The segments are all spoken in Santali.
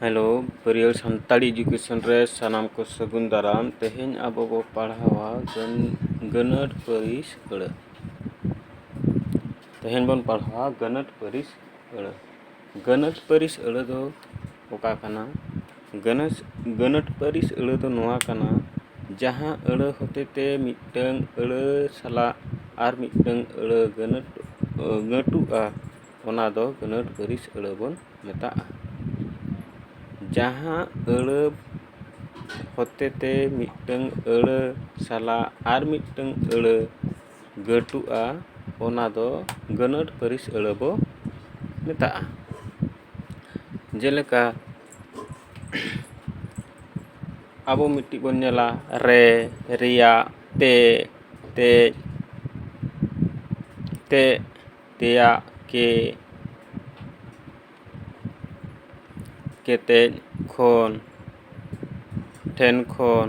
ᱦᱮᱞᱳ ᱵᱟᱹᱨᱭᱟᱹᱲ ᱥᱟᱱᱛᱟᱲᱤ ᱮᱰᱩᱠᱮᱥᱚᱱ ᱨᱮ ᱥᱟᱱᱟᱢ ᱠᱚ ᱥᱟᱹᱜᱩᱱ ᱫᱟᱨᱟᱢ ᱛᱮᱦᱮᱧ ᱟᱵᱚ ᱵᱚ ᱯᱟᱲᱦᱟᱣᱟ ᱜᱟᱹᱱ ᱜᱟᱹᱱᱟᱹᱨ ᱯᱟᱹᱨᱤᱥ ᱟᱹᱲᱟᱹ ᱛᱮᱦᱮᱧ ᱵᱚᱱ ᱯᱟᱲᱦᱟᱣᱟ ᱜᱟᱹᱱᱟᱹᱨ ᱯᱟᱹᱨᱤᱥ ᱟᱹᱲᱟᱹ ᱜᱟᱹᱱᱟᱹᱨ ᱯᱟᱹᱨᱤᱥ ᱟᱹᱲᱟᱹ ᱫᱚ ᱚᱠᱟ ᱠᱟᱱᱟ ᱜᱟᱹᱱᱟᱹᱥ ᱜᱟᱹᱱᱟᱹᱴ ᱯᱟᱹᱨᱤᱥ ᱟᱹᱲᱟᱹ ᱫᱚ ᱱᱚᱣᱟ ᱠᱟᱱᱟ ᱡᱟᱦᱟᱸ ᱟᱹᱲᱟᱹ ᱦᱚᱛᱮ ᱛᱮ ᱢᱤᱫᱴᱟᱹᱝ ᱟᱹᱲᱟᱹ ᱥᱟᱞᱟᱜ ᱟᱨ ᱢᱤᱫᱴᱟᱹᱝ ᱟᱹᱲᱟᱹ ᱜᱟᱹᱱᱟᱹᱴ ᱜᱟᱹᱴᱩᱜᱼᱟ ᱚᱱᱟ ᱫᱚ ᱜᱟᱹᱱᱟᱹᱴ ᱯᱟᱹᱨᱤᱥ ᱟᱹᱲᱟᱹ ᱵᱚᱱ ᱢᱮᱛᱟᱜᱼᱟ ᱡᱟᱦᱟᱸ ᱟᱹᱲᱟᱹ ᱦᱚᱛᱮ ᱛᱮ ᱢᱤᱫᱴᱟᱹᱝ ᱟᱹᱲᱟᱹ ᱥᱟᱞᱟᱜ ᱟᱨ ᱢᱤᱫᱴᱟᱹᱝ ᱟᱹᱲᱟᱹ ᱜᱟᱹᱴᱩᱜᱼᱟ ᱚᱱᱟ ᱫᱚ ᱜᱟᱹᱱᱟᱹᱴ ᱯᱟᱹᱨᱤᱥ ᱟᱹᱲᱟᱹ ᱵᱚ ᱢᱮᱛᱟᱜᱼᱟ ᱡᱮᱞᱮᱠᱟ ᱟᱵᱚ ᱢᱤᱫᱴᱤᱡ ᱵᱚᱱ ᱧᱮᱞᱟ ᱨᱮ ᱨᱮᱭᱟᱜ ᱛᱮ ᱛᱮᱡ ᱛᱮ ᱛᱮᱭᱟᱜ ᱠᱮ ᱠᱮᱛᱮᱡ ᱠᱷᱚᱱ ᱴᱷᱮᱱ ᱠᱷᱚᱱ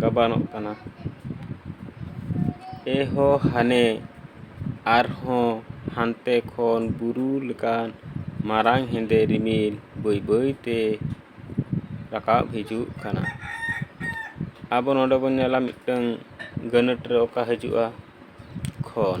ᱜᱟᱵᱟᱱᱚᱜ ᱠᱟᱱᱟ ᱮᱦᱚ ᱦᱟᱱᱮ ᱟᱨᱦᱚᱸ ᱦᱟᱱᱛᱮ ᱠᱷᱚᱱ ᱵᱩᱨᱩ ᱞᱮᱠᱟᱱ ᱢᱟᱨᱟᱝ ᱦᱮᱸᱫᱮ ᱨᱤᱢᱤᱞ ᱵᱟᱹᱭ ᱵᱟᱹᱭ ᱛᱮ ᱨᱟᱠᱟᱵ ᱦᱤᱡᱩᱜ ᱠᱟᱱᱟ ᱟᱵᱚ ᱱᱚᱰᱮ ᱵᱚᱱ ᱧᱮᱞᱟ ᱢᱤᱫᱴᱟᱹᱝ ᱜᱟᱹᱱᱟᱹᱴ ᱨᱮ ᱚᱠᱟ ᱦᱤᱡᱩᱜᱼᱟ ᱠᱷᱚᱱ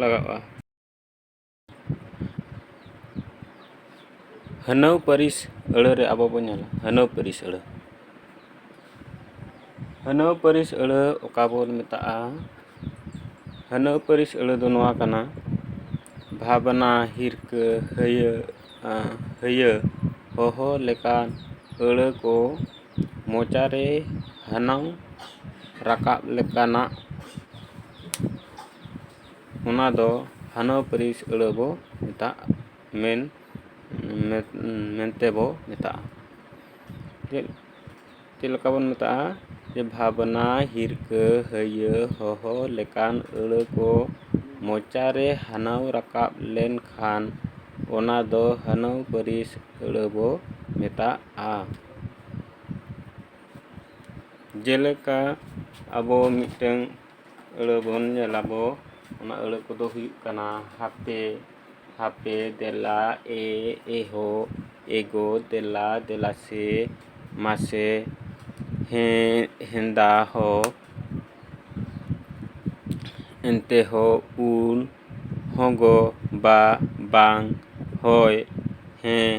ᱞᱟᱜᱟᱜᱼᱟ ᱦᱟᱹᱱᱟᱹᱣ ᱯᱟᱹᱨᱤᱥ ᱟᱹᱲᱟᱹ ᱨᱮ ᱟᱵᱚ ᱵᱚᱱ ᱧᱮᱞᱟ ᱦᱟᱹᱱᱟᱹᱣ ᱯᱟᱹᱨᱤᱥ ᱟᱹᱲᱟᱹ ᱦᱟᱹᱱᱟᱹᱣ ᱯᱟᱹᱨᱤᱥ ᱟᱹᱲᱟᱹ ᱚᱠᱟ ᱵᱚᱱ ᱢᱮᱛᱟᱜᱼᱟ ᱦᱟᱹᱱᱟᱹᱣ ᱯᱟᱹᱨᱤᱥ ᱟᱹᱲᱟᱹ ᱫᱚ ᱱᱚᱣᱟ ᱠᱟᱱᱟ ᱵᱷᱟᱵᱽᱱᱟ ᱦᱤᱨᱠᱟᱹ ᱦᱟᱹᱭᱟᱹ ᱦᱟᱹᱭᱟᱹ ᱦᱚᱦᱚ ᱞᱮᱠᱟᱱ ᱟᱹᱲᱟᱹ ᱠᱚ ᱢᱚᱪᱟ ᱨᱮ ᱦᱟᱱᱟᱝ ᱨᱟᱠᱟᱵ ᱞᱮᱠᱟᱱᱟᱜ ᱚᱱᱟ ᱫᱚ ᱦᱟᱱᱟ ᱯᱟᱹᱨᱤᱥ ᱟᱹᱲᱟᱹ ᱵᱚ ᱢᱮᱛᱟᱜ ᱢᱮᱱ ᱢᱮᱱᱛᱮ ᱵᱚ ᱢᱮᱛᱟᱜᱼᱟ ᱪᱮᱫ ᱪᱮᱫ ᱞᱮᱠᱟ ᱵᱚᱱ ᱢᱮᱛᱟᱜᱼᱟ ᱡᱮ ᱵᱷᱟᱵᱽᱱᱟ ᱦᱤᱨᱠᱟᱹ ᱦᱟᱹᱭᱟᱹ ᱦᱚᱦᱚ ᱞᱮᱠᱟᱱ ᱟᱹᱲᱟᱹ ᱠᱚ ᱢᱚᱪᱟ ᱨᱮ ᱦᱟᱱᱟᱝ ᱨᱟᱠᱟᱵ ᱞᱮᱱᱠᱷᱟᱱ ᱚᱱᱟ ᱫᱚ ᱦᱟᱱᱟᱝ ᱯᱟᱹᱨᱤᱥ ᱟᱹᱲᱟᱹ ᱵᱚ ᱢᱮᱛᱟᱜᱼᱟ ᱟ ᱡᱮᱞᱮᱠᱟ ᱟᱵᱚ ᱢᱤᱫᱴᱟᱹᱝ ᱟᱹᱲᱟᱹ ᱵᱚᱱ ᱧᱮᱞ ᱟᱵᱚ ᱚᱱᱟ ᱟᱹᱲᱟᱹ ᱠᱚᱫᱚ ᱦᱩᱭᱩᱜ ᱠᱟᱱᱟ ᱦᱟᱯᱮ ᱦᱟᱯᱮ ᱫᱮᱞᱟ ᱮ ᱮᱦᱳ ᱮᱜᱳ ᱫᱮᱞᱟ ᱫᱮᱞᱟ ᱥᱮ ᱢᱟᱥᱮ ᱦᱮᱸ ᱦᱮᱸᱫᱟ ᱦᱚ ᱮᱱᱛᱮ ᱦᱚ ᱩᱱ ᱦᱚᱸᱜᱚ ᱵᱟ ᱵᱟᱝ ᱦᱳᱭ ᱦᱮᱸ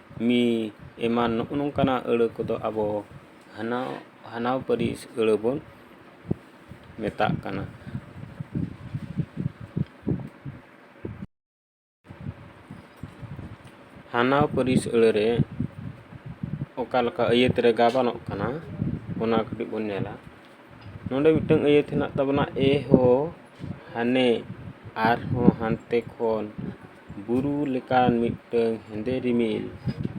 ᱢᱤ ᱮᱢᱟᱱ ᱱᱚᱜᱼᱚ ᱱᱚᱝᱠᱟᱱᱟᱜ ᱟᱹᱲᱟᱹ ᱠᱚᱫᱚ ᱟᱵᱚ ᱦᱟᱱᱟ ᱦᱟᱱᱟᱣ ᱯᱟᱹᱨᱤᱥ ᱟᱹᱲᱟᱹ ᱵᱚᱱ ᱢᱮᱛᱟᱜ ᱠᱟᱱᱟ ᱦᱟᱱᱟᱣ ᱯᱟᱹᱨᱤᱥ ᱟᱹᱲᱟᱹ ᱨᱮ ᱚᱠᱟ ᱞᱮᱠᱟ ᱟᱹᱭᱟᱹᱛ ᱨᱮ ᱜᱟᱵᱟᱱᱚᱜ ᱠᱟᱱᱟ ᱚᱱᱟ ᱠᱟᱹᱴᱤᱡ ᱵᱚᱱ ᱧᱮᱞᱟ ᱱᱚᱰᱮ ᱢᱤᱫᱴᱟᱝ ᱟᱹᱭᱟᱹᱛ ᱦᱮᱱᱟᱜ ᱛᱟᱵᱚᱱᱟ ᱮ ᱦᱳ ᱦᱟᱱᱮ ᱟᱨᱦᱚᱸ ᱦᱟᱱᱛᱮ ᱠᱷᱚᱱ ᱵᱩᱨᱩ ᱞᱮᱠᱟᱱ ᱢᱤᱫᱴᱟᱹᱝ ᱦᱮᱸᱫᱮ ᱨᱤᱢᱤᱞ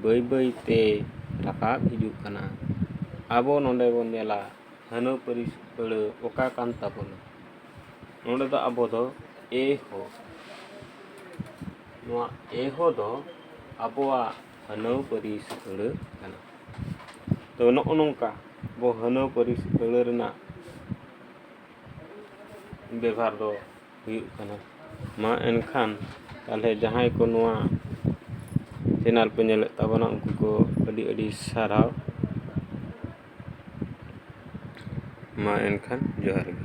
ᱵᱟᱹᱭ ᱵᱟᱹᱭ ᱛᱮ ᱨᱟᱠᱟᱵ ᱦᱤᱡᱩᱜ ᱠᱟᱱᱟ ᱟᱵᱚ ᱱᱚᱸᱰᱮ ᱵᱚᱱ ᱧᱮᱞᱟ ᱦᱟᱹᱱᱟᱹ ᱯᱟᱹᱨᱤᱥ ᱟᱹᱲᱟᱹ ᱚᱠᱟ ᱠᱟᱱ ᱛᱟᱵᱚᱱᱟ ᱱᱚᱸᱰᱮ ᱫᱚ ᱟᱵᱚ ᱫᱚ ᱮ ᱦᱚ ᱱᱚᱣᱟ ᱮ ᱦᱚ ᱫᱚ ᱟᱵᱚᱣᱟᱜ ᱦᱟᱹᱱᱟᱹ ᱯᱟᱹᱨᱤᱥ ᱟᱹᱲᱟᱹ ᱠᱟᱱᱟ ᱛᱚ ᱱᱚᱜᱼᱚ ᱱᱚᱝᱠᱟ ᱟᱵᱚ ᱦᱟᱹᱱᱟᱹ ᱯᱟᱹᱨᱤᱥ ᱟᱹᱲᱟᱹ ᱨᱮᱱᱟᱜ ᱵᱮᱵᱷᱟᱨ ᱫᱚ ᱦᱩᱭᱩᱜ ᱠᱟᱱᱟ ᱢᱟ ᱮᱱᱠᱷᱟᱱ ᱛᱟᱦᱚᱞᱮ ᱡᱟᱦᱟᱸᱭ ᱠᱚ ᱱᱚᱣᱟ ᱪᱮᱱᱮᱞ ᱯᱮ ᱧᱮᱞᱮᱫ ᱛᱟᱵᱚᱱᱟ ᱩᱱᱠᱩ ᱠᱚ ᱟᱹᱰᱤ ᱟᱹᱰᱤ ᱥᱟᱨᱦᱟᱣ ᱢᱟ ᱮᱱᱠᱷᱟᱱ ᱡᱚᱦᱟᱨ ᱜᱮ